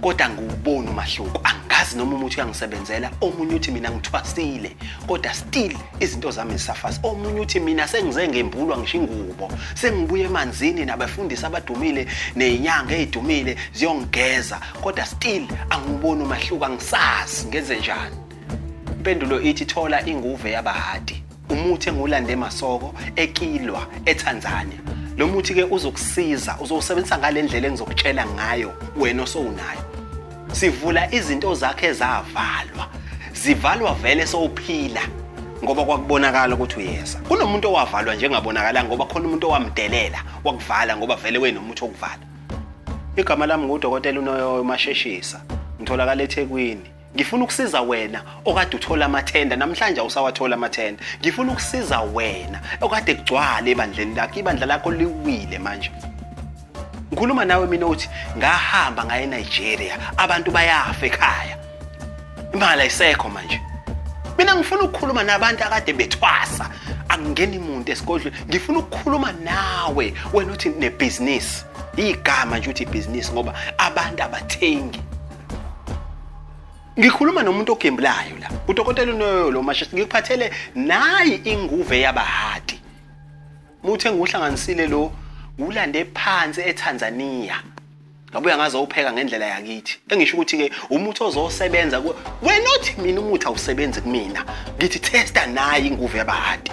kodwa ngiwubona umahluko angazi noma umuthi uyangisebenzela omunye uthi mina ngithwasile kodwa still izinto zami zisafasi omunye uthi mina sengize ngembulwa ngisho ingubo sengibuye emanzini nabafundisi abadumile nezinyanga ezidumile ziyongigeza kodwa still angiwuboni umahluko angisazi ngenze njani impendulo ithi thola inguve yabahadi Umuthi engiwulande eMasoko, eKilwa, eTanzania. Lo muthi ke uzokusiza, uzowusebenzisa ngale ndlela engizokutshela ngayo wena osowunayo. Sivula izinto zakhe ezavalwa. Zivalwa vele sowuphila ngoba kwakubonakala ukuthi uyeza. Kunomuntu owavalwa njengabonakala ngoba khona umuntu owamdelela wakuvala ngoba vele wenomuthi okuvala. Igama lami ngudokotela uNoyoyo Masheshisa. Ngitholakala eThekwini. ngifuna ukusiza wena okade uthola amathenda namhlanje awusawathola amathenda ngifuna ukusiza wena okade kugcwale ebandleni lakho ibandla lakho liwile manje ngikhuluma nawe mina uthi ngahamba ngaye Nigeria abantu bayafa ekhaya imali ayisekho manje mina ngifuna ukukhuluma nabantu akade bethwasa angingeni muntu esigodlweni ngifuna ukukhuluma nawe wena uthi nebhizinisi igama nje uthi ibhizinisi ngoba abantu abathengi Ngikhuluma nomuntu ogembulayo la. Udokotela unoyo lo mashisi ngikuphathele nayi inguve yabahati. Muthe nguhlanganisile lo ulande phansi eTanzania. Ngabuya ngazo upheka ngendlela yakithi. Engisho ukuthi ke umuthi ozosebenza wena othi mina umuthi awusebenzi kumina. Ngithi testa nayi inguve yabahati.